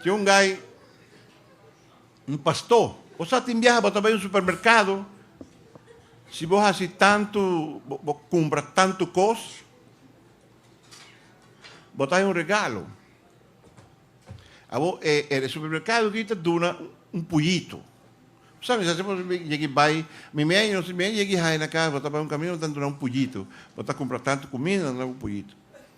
Tin un guy, un pastó, bo sa tin biaha bo ta bai un supermerkado, si bo hasi tantu, bo bo kumpra tantu kos, bo ta hai un regalo. Abo e e supermerkado di ta duna un puyitu. Bo sa misa si bo yegi bai, mi mi aña si mi aña yegi hai na kas, bo ta bai un kaminda bo ta duna un puyitu, bo ta kumpra tantu kumida, bo ta duna un puyitu.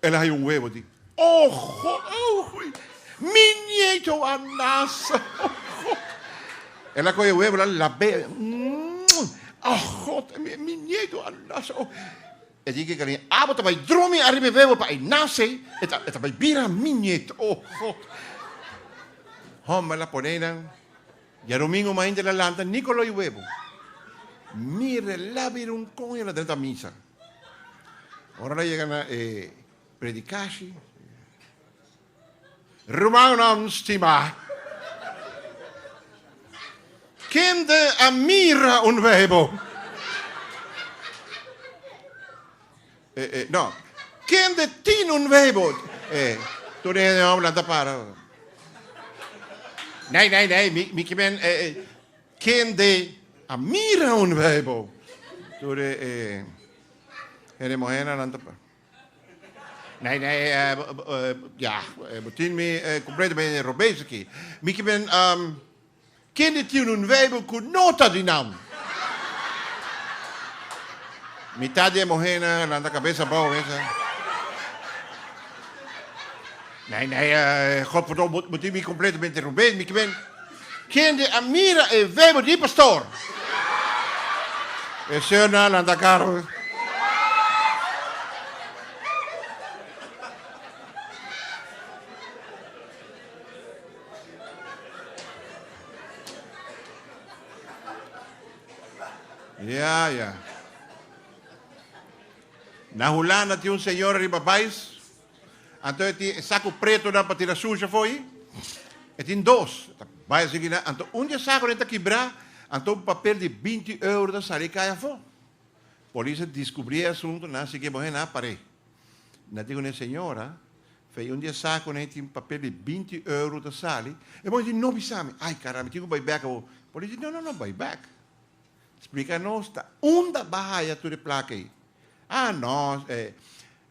El a haya un webo di. Oho! Oho! Mi nieto a nace! Oho! El a coge e webo la labe. Mmm! Oho! Mi nieto a nace! Oho! E tin ke Karin abo ta bay drumi ariba e webo pa e nace, e ta bay bira mi nieto! Oho! Homber la pone eynan. Diadomingo mainta el a lanta, Nicolo e webo. Mira, el a bira un con y el a drenta misa. Ora nan yega na e predikashi, Rumannan stimá, kende a mira un Beibel? E, e, no, kende tin un Beibel? E, tur e hende hombrenan ta para. Nei, nei, nei, mi, mi kimen, e, e. Kende a mira un Bijbel? Tur e hende muhénan nan ta pasa. Nee, nee, ya, bo tin mi completamente robes aki. Mi ke ben, Kende tin un Bijbel ku no ta di nan? Mitat di e muhénan a lanta kabes abou, a bisa, Nee, nee, God perdon, bo tin mi completamente robes. Mi ke ben. Kende a mira e vebe di pastor? E señornan lanta karo. Ya, ya. Na Hulanda tin un señora riba bais. Anto e tin e saku pretonan pa tira sushi afoi? E tin dos. E ta bai asiki nan. Anto un di e sakunan ta kibrá, anto un papel di binti euro ta sali kai afó. Polis a diskubrí e asuntu, nan a siki e muhé, nan a par'é. Nan a di ku nan, Señora, fei un di e sakunan ei tin papel di binti euro ta sali. E muhé di, No bisa mi. Ai, karambi, tin ku bai bèk awor. Polis di, No, no, no bai bèk. Splica nos ta unda ba haya tur e placa ey. Ah no, eh,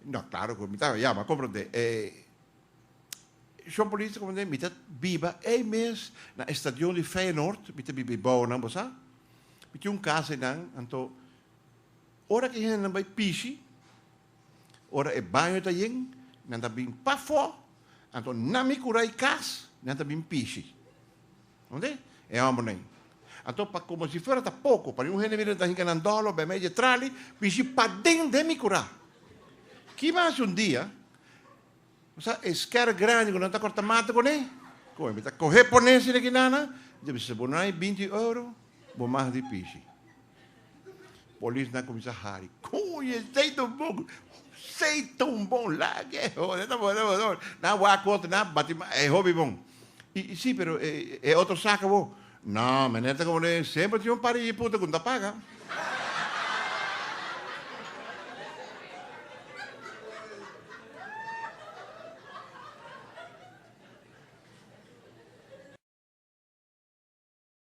no claro cu mi ta ya ba comprende, eh, Shon Polis ta comprende, mi ta biba ey mes na e stadion di Feyenoord, mi ta biba ebao nan bo sa, mi tin un casa ey nan, anto ora cu e hendenan bay pishi, ora e baño ta yen, nan ta bin pafo, anto na mi cura y cas, nan ta bin pishi. Oke, e hòmbernan. Anto pa komo si fuera ta poko, pa mi un hende mira ta hinka nan dòlo bèmei dje trali, bishi paden den mi kurá. Ki mi a hasi un dia? Bo sa e skèr grandi ku nan ta kòrta mata kuné? Kon, mi ta kohe pon'é asina ki nana, dje bo sa bo no hay binti euro? Bo mas di pishi. Polis nan cuminsa hari. Coño, esey ta un bon. Esey ta un bon. Laga e hoda. Nan wak cu otro. Nan wak cu otro. Nan bati mas. E hobi bon. Y, y si, pero e, e otro saca bo. No, meneer ta como den. Semper tin un par di hijiputa cu no ta paga.